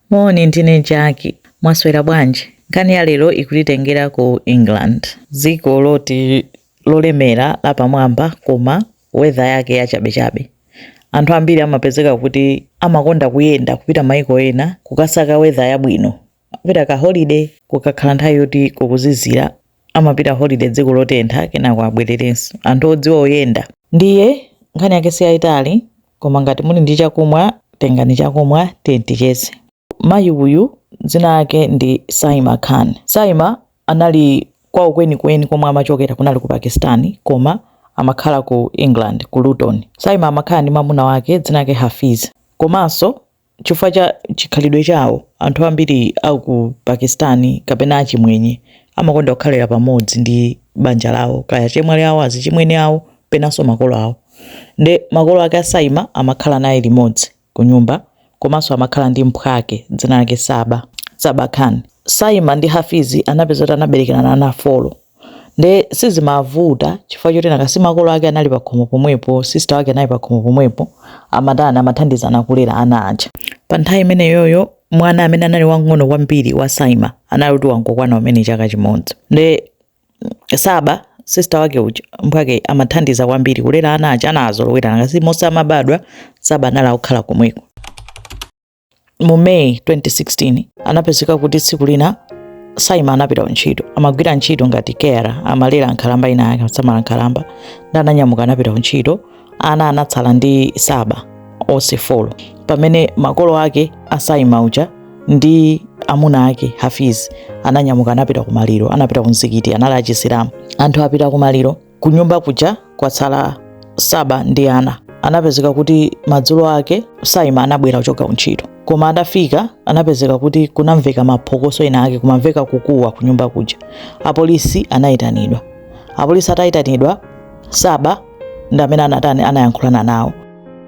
Moni, ndine Jaki. Mwaswera bwanji? Nkhani ya lero ikutitengera ku England, dziko loti lolemera lapamwamba koma weather yake yachabechabe. Anthu ambiri amapezeka kuti amakonda kuyenda kupita maiko ena kukasaka weather yabwino, kupita ka holiday, kukakhala nthawi yoti kukuzizira amapita holiday dziko lotentha kenako abwererenso anthu odziwa oyenda ndiye nkhani yake si yayitali koma ngati muli ndi chakumwa tengani chakumwa tiyeni ticheze mayi uyu dzina lake ndi saima khan saima anali kwawo kwenikweni komwe amachokera kunali ku pakistan koma amakhala ku england ku luton saima amakhala ndi mamuna wake dzina lake hafiz komanso Chifukwa cha chikhalidwe chawo, anthu ambiri a ku Pakistan kapena achimwenye amakonda kukhalira pamodzi ndi banja lawo, kaya achemwali awo, azichimwene awo, penanso makolo awo. Nde makolo ake a Saima amakhala naye limodzi kunyumba komanso amakhala ndi mphwake, dzina lake Saba, Saba Khan. Saima ndi Hafiz anapeza kuti anaberekerana ana four. nde sizimavuta chifukwa choti nanga si makolo ake anali pakhomo pomwepo sister wake anali pakhomo pomwepo amatani amathandizana kulera ana aja pa nthawi imeneyoyo mwana amene anali wang'ono kwambiri wa saima anali kuti wangokwana kumene chaka chimodzi nde saba sister wake uja mphwake amathandiza kwambiri kulera ana aja anazolowera nanga si onse amabadwa saba anali akukhala komweko mu May 2016 anapezeka kuti tsiku lina Saima anapita kuntchito, amagwira ntchito ngati carer, amalera nkhalamba ina yake, amasamala nkhalamba, nde ananyamuka anapita kuntchito, ana anatsala ndi Saba onse four, pamene makolo ake a Saima aja ndi amuna ake Hafiz ananyamuka anapita kumaliro, anapita kumzikiti, anali achisilamu. Anthu apita kumaliro Kunyumba kuja kwatsala Saba ndi ana. Anapezeka kuti madzulo ake Saima anabwera kuchoka kuntchito, koma atafika anapezeka kuti kunamveka maphokoso ena ake, kumamveka kukuwa kunyumba kuja. Apolisi anayitanidwa. Apolisi atayitanidwa, Saba ndi amene anatani anayankhulana nawo.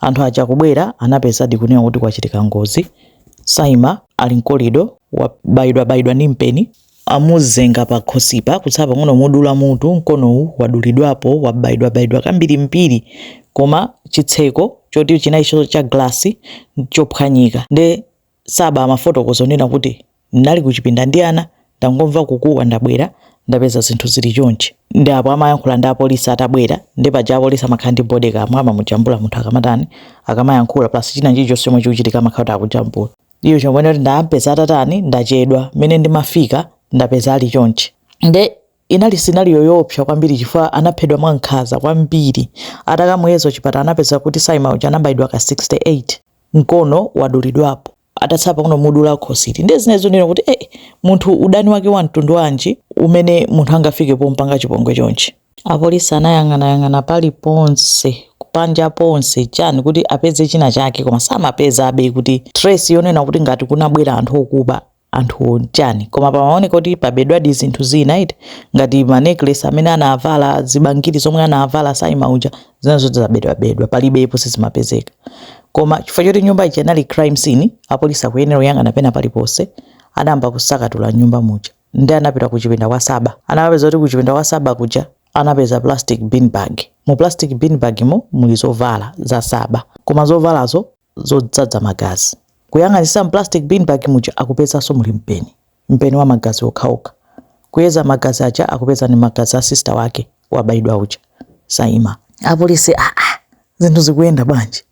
Anthu aja kubwera anapezadi kunena kuti kwachitika ngozi, Saima ali mu corridor wabayidwa bayidwa ndi mpeni, amuzenga pakhosipa kutsala pang'ono kumudula mutu, mkonowu wadulidwapo wabayidwa bayidwa kambiri mbiri koma chitseko choti chinali cha glass chophwanyika nde Saba amafotokoza kunena kuti, Ndinali kuchipinda ndi ana, ndangomva kukuwa ndabwera, ndapeza zinthu zili chonchi. Nde apo amayankhula ndi apolisi atabwera, nde paja apolisi amakhala ndi bodycam, amamujambula munthu akamatani, akamayankhula plus china chilichonse chomwe chikuchitika amakhala kuti akujambula. Icho chomwe anati, Ndaampeza atatani, ndachedwa, mmene ndimafika ndapeza ali chonchi. Nde Inali scenario yoopsa kwambiri chifukwa anaphedwa mwankhaza kwambiri. Atakamuyeza kuchipatala anapeza kuti Saima uja anabayidwa ka 68, mkono wadulidwapo. Atatsala pang'ono kumudula khosili. Ndiye zinali zonena kuti eh, munthu udani wake wa mtundu wanji umene munthu angafike pomupanga chipongwe chonchi? Apolisi anayang'anayang'ana paliponse, panja ponse, chani kuti apeze china chake koma samapezabe kuti trace yonena kuti ngati kunabwera anthu okuba anthuwo ndi chani koma pamaoneka kuti pabedwadi zinthu zina iti ngati ma necklace amene anavala zibangiri zomwe anavala saima uja zina zoti zabedwabedwa palibepo sizimapezeka koma chifukwa choti nyumba ija inali crime scene apolisi akuyenera kuyang'ana pena paliponse adayamba kusakatula nyumba muja nde anapita ku chipinda kwa saba anapeza kuti ku chipinda kwa saba kuja anapeza plastic bin bag mu plastic bin bag mo muli zovala za saba koma zovalazo zodzadza magazi. Kuyang'anitsitsa mu plastic bin bag muja akupezanso muli mpeni. Mpeni wa magazi okhaokha. Kuyeza magazi aja akupeza ndi magazi a sister wake wabayidwa uja. Saima. Apolisi aah zinthu zikuyenda bwanji?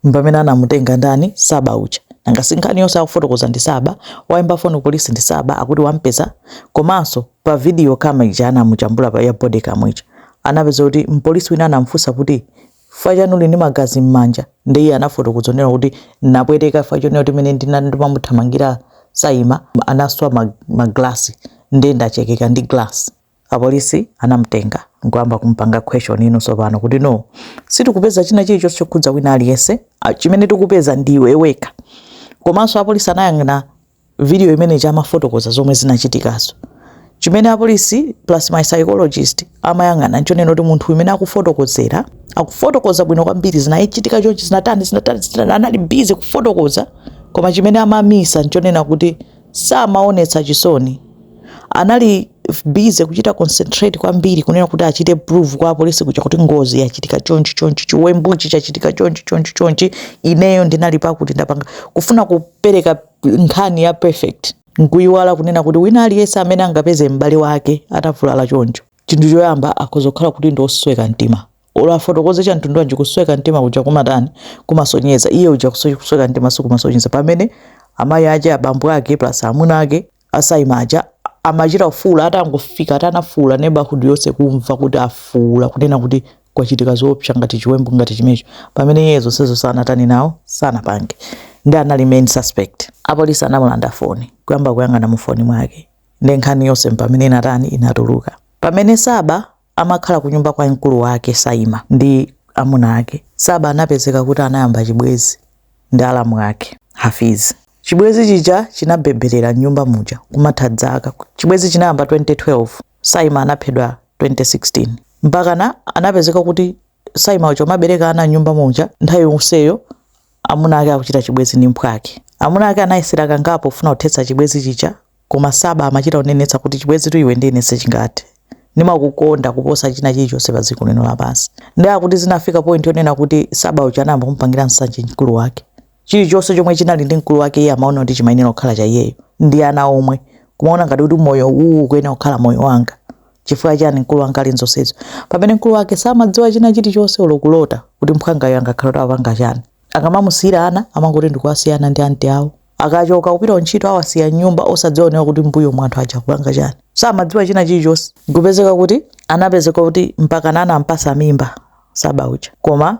Mpamene anamutenga ndani Saba uja. Nanga si nkhani yonse akufotokoza ndi Saba. Waimba foni ku polisi ndi Saba akuti wamupeza. Komanso pa video camera ija anamujambula paja ya body cam ija. Anapeza kuti mpolisi wina anamufunsa kuti Chifukwa chani uli ndi magazi mmanja? Nde iye anafotokoza kunena kuti nnapweteka chifukwa chonena kuti mmene ndinali ndimamuthamangira saima, anaswa ma ma glass nde ndachekeka ndi glass. Apolisi anamutenga nkuyamba kumupanga questioning sopano kuti no sitikupeza china chilichonse chokhudza wina aliyense chimene tikupeza ndi iwe wekha komanso apolisi anayang'ana video imene ija amafotokoza zomwe zinachitikazo chimene apolisi plus ma psychologist amayang'ana nchonena kuti munthu mmene akufotokozera akufotokoza bwino kwambiri zinachitika chonchi zinatani zinatani zinatani anali busy kufotokoza koma chimene amamisa nchonena kuti samaonetsa chisoni anali busy kuchita concentrate kwambiri kunena kuti achite prove kwa apolisi kuja kuti ngozi yachitika chonchi chonchi chiwembuchi chachitika chonchi chonchi chonchi ineyo ndinali pakuti ndapanga kufuna kupereka nkhani ya perfect nkuyiwala kunena kuti wina aliyense amene angapeze m'bale wake atavulala choncho chinthu choyamba akhoza kukhala kuti ndi osweka mtima Olo afotokoze za mtundu wanji kusweka mtima kuja kumatani? Kumasonyeza. Iye uja kuso- kusweka mtima sikumasonyeza. Pamene amayi ache, abambo ake plus amuna ake asaima aja amachita kufuula atangofika ati anafuula neighborhood yonse kumva kuti afuula kunena kuti kwachitika zoopsa ngati chiwembu ngati chimenecho pamene iye zonsezo sanatani nazo sanapange nde anali main suspect. Apolisi anamulanda foni kuyamba kuyang'ana mufoni mwake ndi nkhani yonse mpamene inatani inatuluka. Pamene saba amakhala kunyumba kwa mkulu wake Saima ndi amuna ake. Saba anapezeka kuti anayamba chibwezi ndi alamu ake Hafiz. Chibwezi chija chinabebera nyumba muja kumatha dzaka. Chibwezi chinayamba 2012, Saima anaphedwa 2016. Mpakana anapezeka kuti Saima uja amabereka ana nyumba muja nthawi yonseyo amuna ake akuchita chibwezi ndi mphwake. Amuna ake anayesera kangapo kufuna kuthetsa chibwezi chija Koma Saba amachita kunenetsa kuti, Chibwenzitu iwe ndi ine sichingathe. Ndimakukonda kuposa china chilichonse padziko lino lapansi. Ndiye akuti zinafika point yonena kuti Saba uja anayamba kumupangira nsanje mkulu wake. Chilichonse chomwe chinali ndi mkulu wake iye amaona kuti chimayenera kukhala cha iyeyo ndi ana omwe. Kumaona ngati kuti moyo uwu ukuyenera kukhala moyo wanga. Chifukwa chiyani mkulu wanga ali m'zonsezo? Pamene mkulu wake samadziwa china chilichonse olo kulota kuti mphwangayo angakhale kuti akupanga chani. Akamamusiyira ana amangoti ndikuwasiya ana ndi anti awo. akachoka kupita kuntchito awasiya nyumba osadziwanso kuti mbuyomu anthu aja kupanga chani samadziwa china chilichonse nkupezeka kuti anapezeka kuti mpakana anampasa mimba saba uja koma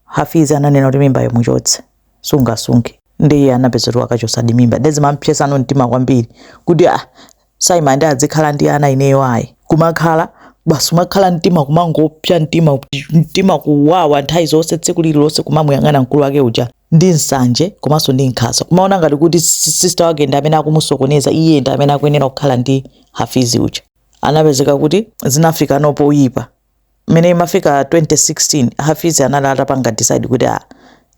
hafizi ananena kuti mimba iyo uchotse sungasunge ndiye anapezeka kuti wakachosadi mimba nde zimampsesano mtima kwambiri kuti ah, saima nde adzikhala ndi ana ineyo ayi kumakhala basi umakhala mtima kumangopsa mtima mtima kuwawa nthawi zonse tsiku lililonse kumamuyang'ana mkulu wake uja ndi nsanje komanso ndi nkhaza kumaona ngati kuti si- sister wake ndi amene akumusokoneza iye ndi amene akuyenera kukhala ndi hafizi uja anapezeka kuti zinafikano poyipa mmene imafika 2016 hafizi anali atapanga decide kuti ah,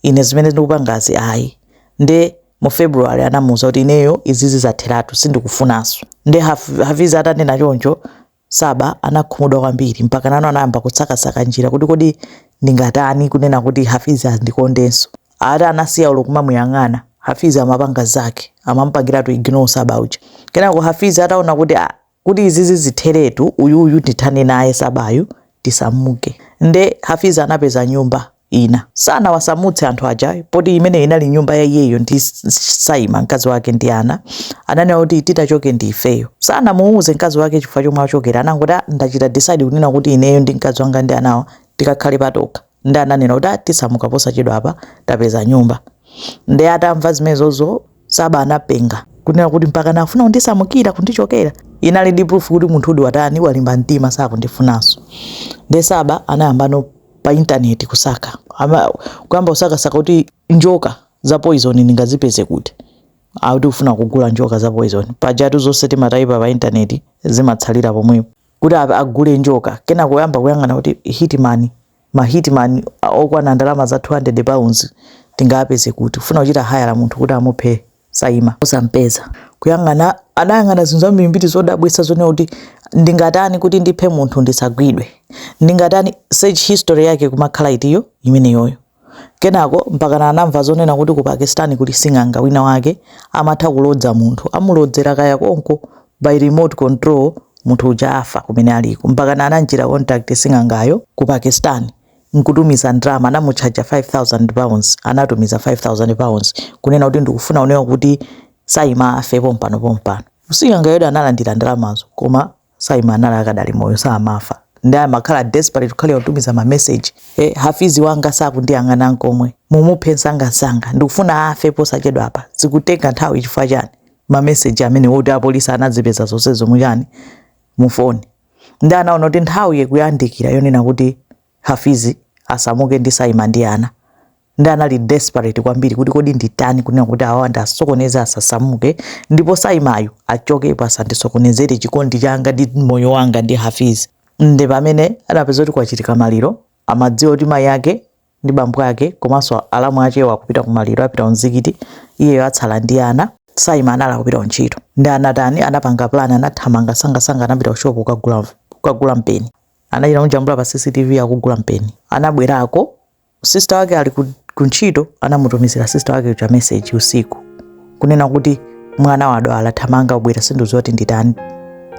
ine zimene ndikupangazi ayi nde mu february anamuuza kuti ineyo izizi zatheratu sindikufunanso nde Haf- hafizi atanena choncho saba anakhumudwa kwambiri mpakana anayamba kusakasaka njira kuti kodi ndingatani kunena kuti hafizi andikondenso ati anasiya olo kumamuyang'ana hafizi amapanga zake amamupangiratu ignore saba uja kenako hafizi ataona kuti ah, kuti izizi zitheretu uyuyu ndithane naye sabayu tisamuke nde hafiz anapeza nyumba ina sanawasamutse anthu aja poti imene inali nyumba ya iyeyo ndi saima mkazi wake ndi ana ananena kuti titachoke ndi ifeyo sanamuuze mkazi wake chifukwa chomwe achokera anangoti "Ah, ndachita decide kunena kuti ineyo ndi mkazi wanga ndi anawa tikakhale patokha nde ananena kuti ah, tisamuka posachedwapa tapeza nyumba nde atamva zimenezozo saba anapenga kunena kuti mpakana afuna kundisamukira kundichokera inali ndi proof kuti munthuyudi watani walimba mtima sakundifunanso nde saba anayambano pa intaneti kusaka Ama- kuyamba kusakasaka kuti njoka za poison ndingazipeze kuti akuti kufuna kugula njoka za poison pajatu zonse timatayipa pa intaneti zimatsalira pomwepo kuti a- agule njoka kenako kuyamba kuyang'ana kuti hitman ma hitman a- okwana ndalama za 200 pounds tingapeze kuti kufuna kuchita hire munthu kuti amuphe Saima osampeza kuyang'ana anayang'ana zinthu zambirimbiri zodabwitsa zonena kuti ndingatani kuti ndiphe munthu ndisagwidwe ndingatani search history yake imakhala iti yo imeneyoyo Kenako mpakana anamva zonena kuti ku Pakistan kuli sing'anga wina wake amatha kulodza munthu. Amulodzera konko by remote control munthu uja afa kumene aliko. Mpakana anamchita contact sing'angayo ku Pakistan n'kutumiza ndalama anamutchaja £5000 anatumiza £5000 kunena kuti ndikufuna kunena kuti Saima afe pompano pompano. Sing'angayotu analandira ndalamazo koma Saima anali akadali moyo samafa ndi amakhala desperate kukhalira kutumiza ma message eh, Hafeez wanga sakundiyang'ana nkomwe mumuphe msangamsanga ndikufuna afe posachedwa apa zikutenga nthawi chifukwa chani ma message amene oti apolisi anazipeza zonse zomwe chani mufoni ndi anaona kuti nthawi ikuyandikira yonena kuti Hafeez asamuke ndi Saima ndi ana ndi anali desperate kwambiri kuti kodi nditani kunena kuti awawa ndiwasokoneze asasamuke ndipo Saimayu achokepo asandisokonezere chikondi changa ndi moyo wanga ndi Hafeez ndi pamene anapeza kuti kwachitika maliro amadziwa kuti mayi ake ndi bambo ake komanso alamu akewo akupita ku maliro apita kumzikiti iyeyo atsala ndi ana Saima anali akupita ku ntchito ndi anatani anapanga plan anathamanga msangamsanga anapita ku shop kukagula kukagula mpeni anachita kumujambula pa CCTV akugula mpeni. Anabwerako sister wake ali ku, ku ntchito, anamutumizira sister wake uja message usiku kunena kuti mwana wadwala, thamanga ubwere, sindikudziwa kuti nditani,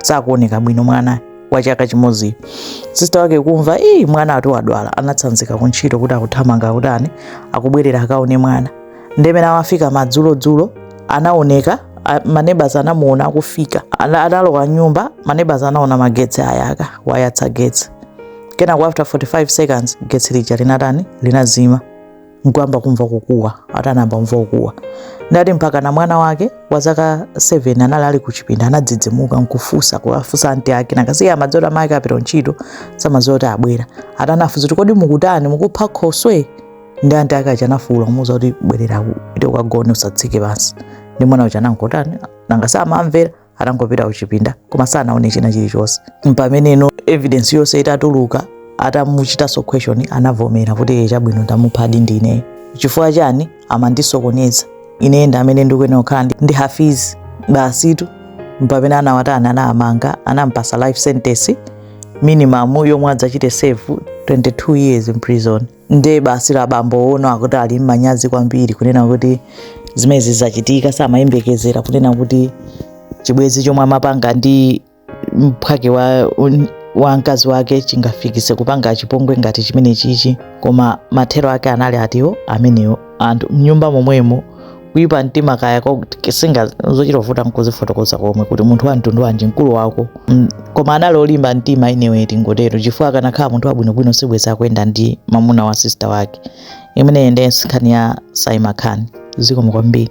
sakuoneka bwino mwana wa chaka chimodziyo. Sister wake kumva ii, mwana ati wadwala, anatsanzika ku ntchito kuti akuthamanga akutani, akubwerera akaone mwana. ndi mmene amafika madzulodzulo anaoneka manebazi anamuona akufika analowa m'nyumba manebazi anaona magetsi ayaka wayatsa getsi kenako after 45 seconds getsi lija linatani linazima nkuyamba kumva kukuwa atayamba kumva kukuwa ndati mpakana mwana wake wa zaka 7 anali ali kuchipinda anadzidzimuka nkufunsa kuwafunsa anti ake nanga si amadziwa kuti mayi ake apita kuntchito samadziwa kuti abwera ati anafunsa kuti kodi mukutani mukupha khoswe ndi anti ake aja anafuwula kumuwuza kuti bwerera ku- kuti ukagone usatsike pansi ndi mwana uja anangotani nanga si amamvera anangopita kuchipinda koma sanaone china chilichonse mpameneno evidence yonse itatuluka atamuchitanso question anavomera kuti "Eh, chabwino ndamuphadi ndine chifukwa chani amandisokoneza ine ndi amene ndikuyenera kukhala ndi- ndi Hafeez basitu mpamene anawatani anammanga anampatsa life sentence minimum yomwe adzachite serve 22 years in prison nde basi la bambo wonse akuti ali mmanyazi kwambiri kunena kuti zimene zachitika samayembekezera kunena kuti chibwezi chomwe amapanga ndi mphwake wa, wa mkazi wake chingafikise kupanga chipongwe ngati chimene chichi koma mathero ake anali atiwo amenewo anthu mnyumba momwemo kuyipa mtima kaya kaya zina zochita kuvuta nkuzifotokoza komwe kuti munthu wa mtundu wanji mkulu wako Mm, koma anali olimba mtima inewe tingotero chifukwa akanakhala munthu wabwinobwino sibweza akuyenda ndi mamuna wa sista wake imeneyi ndiye nkhani ya saima khan zikomo kwambiri